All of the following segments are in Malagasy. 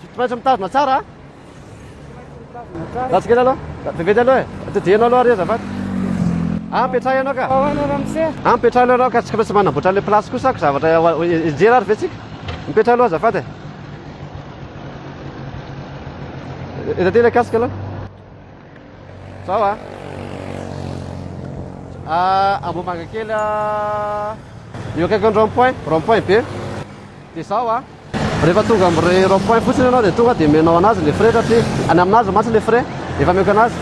Tsy maintsy mitazona tsara a. Ratsy kely aloha. Vetivety aloha e. Todiheno aloha ary azafady. Ah, petraha ianao ka. Ahoana ramose? Ah, petraha aloha ianao ka. Tsika mihitsy manamboatra an'ilay place kosa ko zavatra hijery ary ve tsika? Mipetraha aloha azafady e. Eto aty ilay casque aloha. Zao a. Ah, Ambohimanga kely a. Eo akaikin'ny rond point, rond point be. Dia zao a. Rehefa tonga amin'ny rond point fotsiny ianao dia tonga dia menao anazy ilay frais satria any aminazy mantsy ilay frais efa meko anazy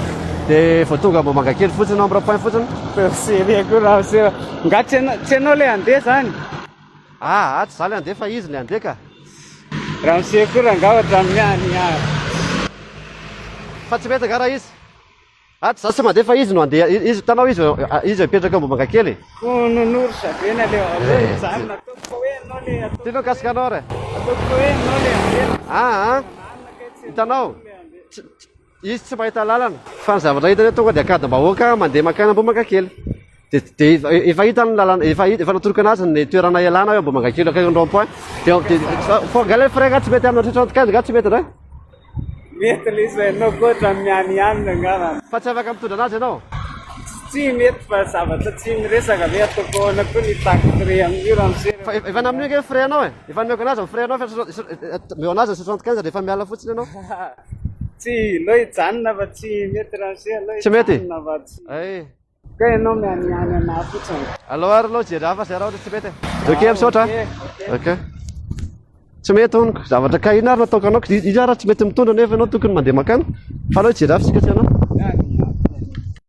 dia vao tonga Ambohimanga kely fotsiny ianao amin'ny rond point fotsiny. Percé le akory raha seho. Nga tsy ianao le handeha zany? Ah ah tsy za le andeha fa izy le andeha ka. Ramose koa rangah ohatran'ny any ah. Fa tsy mety angaha raha izy. Ah tsy za tsy mandeha fa izy no andeha. Izy hitanao izy izy mipetraka Ambohimanga kely. Oh nonoro zavena le aleo mijanona ataoko fa hoe ianao le ataoko. Ty no mikasika anao re. Ataoko fa hoe ianao le andeha. Ah ah. Hitanao. Izy tsy mahita lalana fa ny zavatra hitany tonga dia ankadimbahoaka mandeha mankany Ambohimankakely. Dia efa hitany ny lalana, efa efa natorokana azy ny toerana ialana hoe Ambohimankakely akaikin'ny rond point. Dia fa angaha ilay frein-gah tsy mety amina tratran'ny tokazy nga tsy mety indray? Mety le izay anao koa ohatran'ny mianianina angamba. Fa tsy afaka mitondra anazy ianao? Tsy mety fa zavatra tsy miresaka ve ataoko ahoana koa ny tactile amin'io raha misery. Fa efa namin'io ange ny frein-nao e! Efa nomeko anazy ny frein-nao fa eo anazy ny cent quinze rehefa miala fotsiny ianao. Tsy lo hijanona fa tsy mety raha se alo Tsy mety? hijanona fa tsy. Ay. Ka ianao mianiany anah fotsiny. Alao ary aloha hijery hafa zay raha ohatra tsy mety e. Ok misaotra a. Ok, ok. Ok. Tsy mety hono ko. Zavatra ka inona ary no ataoko anao ko. Iza ary raha tsy mety mitondra nefa ianao tokony mandeha mankany. Fa alao hijery hafa isika tsy anao.